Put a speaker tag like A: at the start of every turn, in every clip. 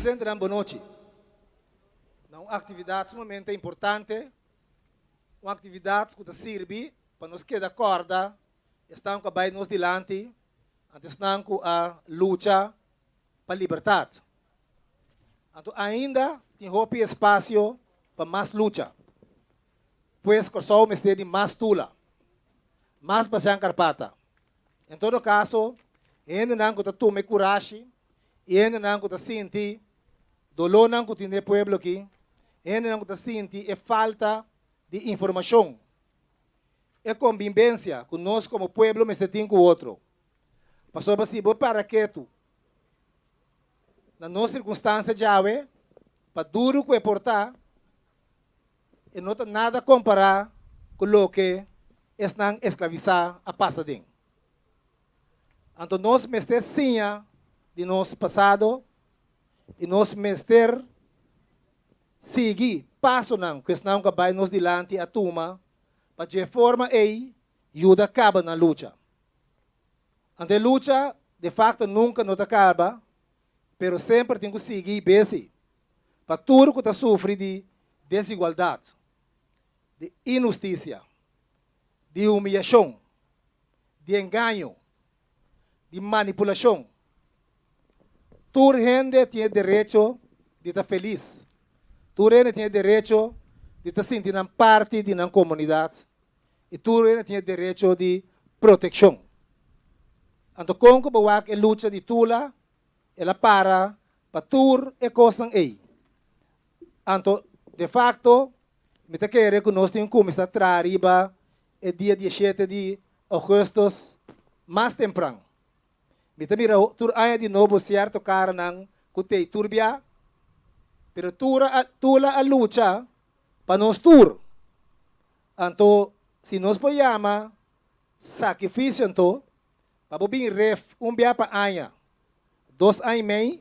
A: Presentenan bon nochi na un aktividat sumamente importante, un aktividat ku ta sirbi pa nos keda kòrda esnan ku a bai nos dilanti anto esnan ku a lucha pa libertat. Anto ainda tin hopi espasio pa mas lucha. Pues Kòrsou mester di mas tula, mas basian karpata. En todo kaso, hendenan ku ta tuma e kurashi i hendenan ku ta sinti dolónan ku tin den e pueblo aki, hendenan ku ta sinti e falta di informashon, e kombimbensia ku nos komo pueblo mester tin ku otro. Pasobra si bo para ketu na nos sirkunstansia djawe, pa duru ku e por ta, e no ta nada kompará ku loke esnan esklavisá a pasa den. Anto nos mester siña di nos pasado i nos mester sigui pasonan ku esnan ku a bai nos dilanti a tuma pa dje forma ei yuda kaba nan lucha. Anto e lucha de fakto nunka no ta kaba. pero semper tin ku sigui besi pa tur ku ta sufri di desigualdat, di inhustisia, di humiyashon, di engaño, di manipulashon. Tur hende tin e derecho di ta felis, tur hende tin e derecho di ta sinti nan parti di nan komunidat. i tur reina tin e derecho di protekshon. Anto kon ku bo wak e lucha di Tula? El a para pa tur e kosnan ei. Anto, de fakto, mi ta kere ku nos tin ku kuminsá traha riba e dia di e shete di ougùstus mas tempran. Mi ta mira tur aña di nobo sierto karanan ku t'ei turbiá, pero Tula a lucha pa nos tur. Anto, si nos por yama sakrificio anto, pa bo bin ref un bia pa aña, dos aña y mei,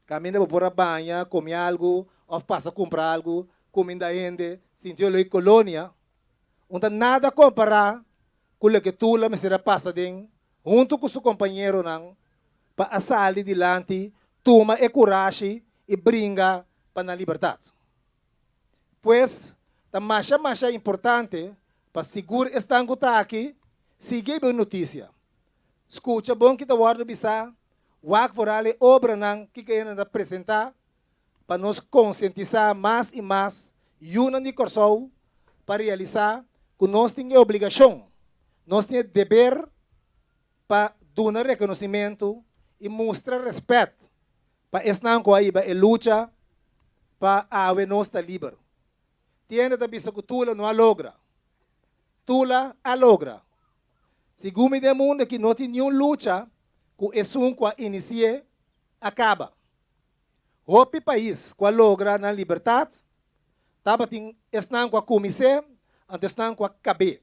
A: caminda bo por a baña, comi algo of pasa cumpra algo, cuminda hende, sintio loe colonia, un ta nada compara cu loke Tula mester a pasa den hunto cu su compañeronan pa a sali dilanti, tuma e curashi y bringa pa nan libertad. Pues, ta masha masha importante pa sigur esnan ku ta aki sigui e bon notisia. Skucha bon ki ta wòrdu bisá, wak foral e obranan ki kayena ta presentá pa nos konsientisá mas i mas yunan di Kòrsou pa realisá ku nos tin e obligashon, nos tin e deber pa duna rekonosimentu i mustra rèspèt Pa esnan ku a hiba e lucha pa awe nos ta liber, Tiende ta bisa ku Tula no a logra. Tula a logra! Segun mi den mundu aki no tin niun lucha ku esun ku a inisié a kaba. Hopi pais ku a logra nan libertat tabatin esnan ku a kumins'é anto esnan ku a kab'é.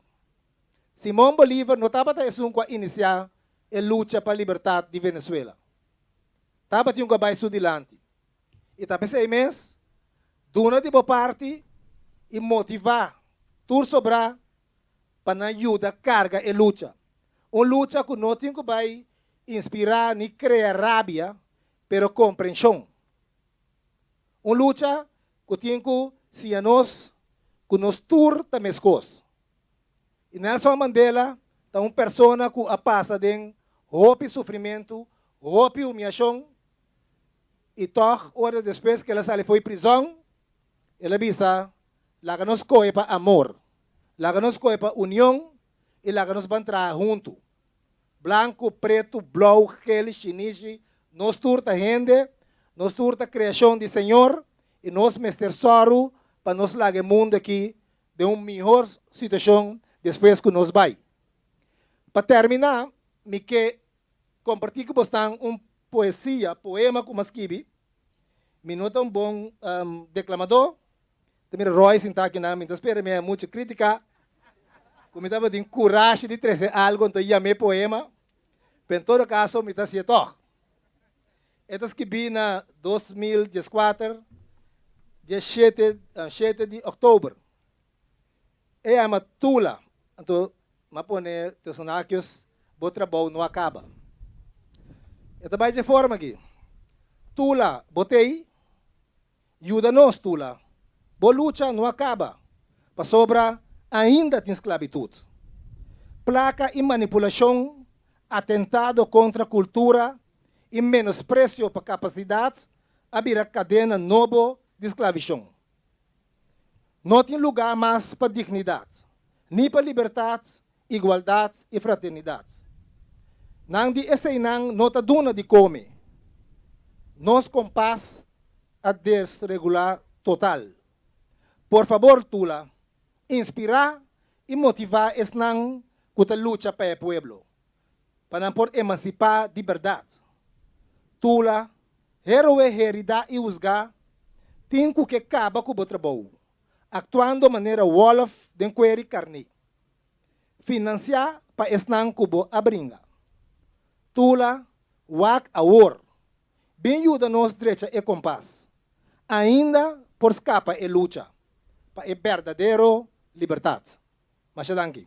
A: Simon Bolívar no tabata esun ku a inisiá e lucha pa libertat di Venezuela. tabatin ku a bai su dilanti. I ta p'esei mes, duna di bo parti i motivá tur sobrá pa nan yuda karga e lucha. Un lucha ku no tin ku bai inspirá ni krea rabia, pero komprenshon. Un lucha ku tin ku siña nos ku nos tur ta meskos. I Nelson Mandela ta un persona ku a pasa den hopi sufrimentu, hopi humiashon, i tòg ora despues ku el a sali fo'i prizòn, el a bisa, Laga nos kohe pa amor, laga nos kohe pa union i laga nos ban traha huntu. Blanku, pretu, blou, ghel, shinishi, nos tur ta hende, nos tur ta kreashon di Señor i nos mester sòru pa nos laga e mundu aki den un mihor situashon despues ku nos bai. Pa tèrminá mi ke kompartí ku bosnan un poesia, poema, ku mi a skibi. Mi no ta un bon deklamadó, ta mira Roy sintá aki nan, mi ta spera mi haya mucha krítika, ku mi tabatin kurashi di trese algu, anto yam'é poema, pero en todo kaso mi ta hasi'é tòg. E ta skibí na dos mil dies kuater, dia shete shete di òktober. E yama Tula, anto m'a pone tussen hakios, Bo trabou no a kaba. E ta bai dje forma akí, Tula, bo t'ei? Yuda nos, Tula. Bo lucha no a kaba, pasobra ainda tin sklabitut, plaka i manipulashon, atentado kontra kultura i menospresio pa kapasidat a bira kadena nobo di sklavishon. No tin lugá mas pa dignidat, ni pa libertat igualdat i fraternidat. Nan di eseinan no ta duna di kome. Nos kompas a desregulá total. Por fabor Tula, inspirá i motivá esnan ku ta lucha pa e pueblo, pa nan por emansipá di bèrdat. Tula, héroe heridá i husgá, tin ku ke kaba ku bo trabou, aktuando manera wòlf den kueri karné. Financiá pa esnan cu bo a bringa. Tula, Wak awor! Bin yuda nos drecha e compas. Ainda por scapa e lucha pa e berdadero libertad. Masha danki.